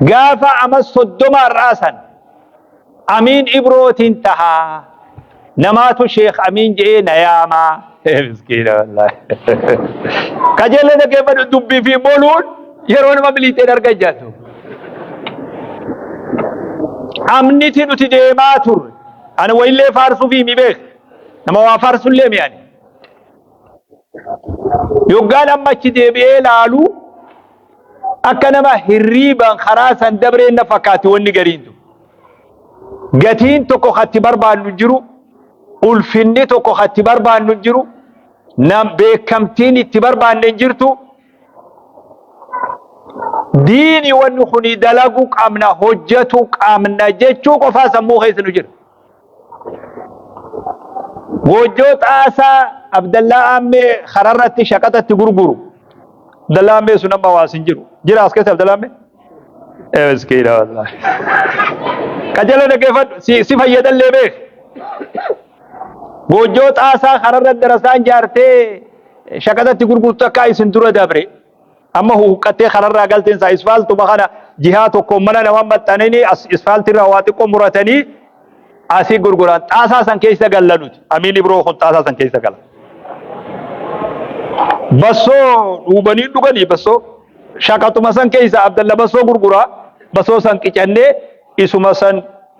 Gaafa amas soddoma har'aa san Amiin Ibrootiin tahaa namaatu Sheekh Amiin je'ee na yaamaa. Miskiina wallaahi. Qajeellee dhaggeeffadhu dubbii fi boluun yeroo nama biliixeen arga jattu. Amniti nuti deemaa turre. Ani wayillee faarsuu fi himi beeka. Nama waa faarsullee mi ani. Yoggaan amma achi deebi'ee laaluu akka nama hirriibaan karaa san dabreen na fakkaatti wanni gariin tun. Gatiin tokko katti barbaannu hin jiru, ulfinni tokko katti barbaannu hin jiru, nam beekamtiin itti barbaanne hin jirtu. Diini wanni kuni dalaguu qabna, hojjatu qabna jechuu qofaa sammuu keessa nu jira. Goojjoo xaasaa Abdallaa Aammee kararratti shaqaxa itti gurguru. Abdallaa Aammee sun amma waas hin jiru. Jira as keessa Abdallaa Aammee? Eh, Miskiina wallaahi. Qajeeloo dhaggeeffadhu si si fayyadallee beek. Goojjoo xaasaa kararra darasaan jaartee shaqaxa itti gurgurtu akka isin dura dabre. Amma huqqattee kararraa galteen isaa isfaaltuma kana jihaa tokkoon mana namaa maxxananii as isfaaltirraa waa xiqqoo muratanii asii gurguraan xaasaa san keessa galla nuti. Amiin Ibroo kun xaasaa san keessa gala. Bassoo dhuubanii dhuganii bassoo shaqaxuma san keessa Abdalla bassoo gurguraa bassoo san qicannee isuma san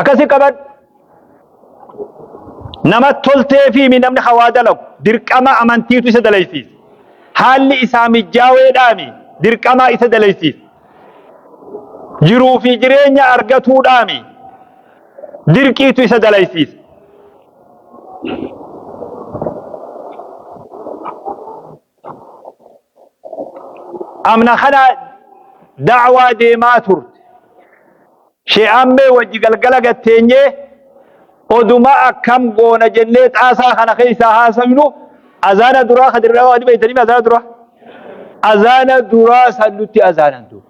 Akkasi qabadhu. Nama toltee fi namni hawaa dalagu dirqama amantiitu isa dalaysiisa. Haalli isaa mijjaaweedhaami dirqamaa isa dalaysiisa. Jiruu fi jireenya argatuudhaami dirqiitu isa dalaysiisa. amna kana da'waa deemaa turte shee ammee wajji galgala gatteenyee oduma akkam goona jennee xaasaa kana keessaa haasofnu azaana duraa kadirraa waan beektaniif azaana duraa azaana duraa san nutti azaanan duuba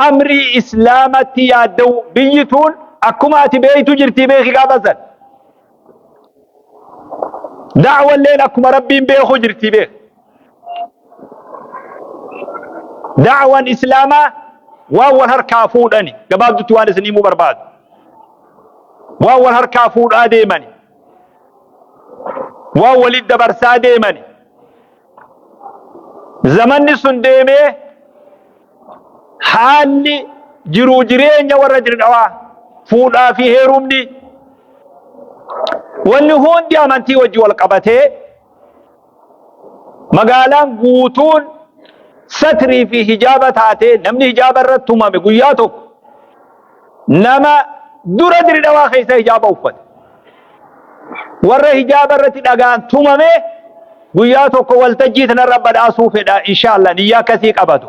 amrii islaamatti yaadda'u biyyi tuun akkuma ati beektu jirtii beeki gaafa san Da'walleen akkuma rabbiin beeku jirti beek. Da'wan islaamaa waan wal harkaa fuudhani gabaabdutti waan isin himuu barbaadu. Waan wal harkaa fuudhaa deemani. Waan walitti dabarsaa deemani. Zamanni sun deemee haalli jiruu jireenya warra dirdhawaa fuudhaa fi heerumni wanni hundi amantii wajji wal qabatee magaalaan guutuun satrii fi hijaaba taatee namni hijaaba irratti tumame guyyaa tokko Nama dura diri dhawaa keessa hijaaba uffate. Warra hijaaba irratti dhagaan tumame guyyaa tokko waltajjii tanarra badhaasuu fedha inshaalla niyyaa akkasii qabatu.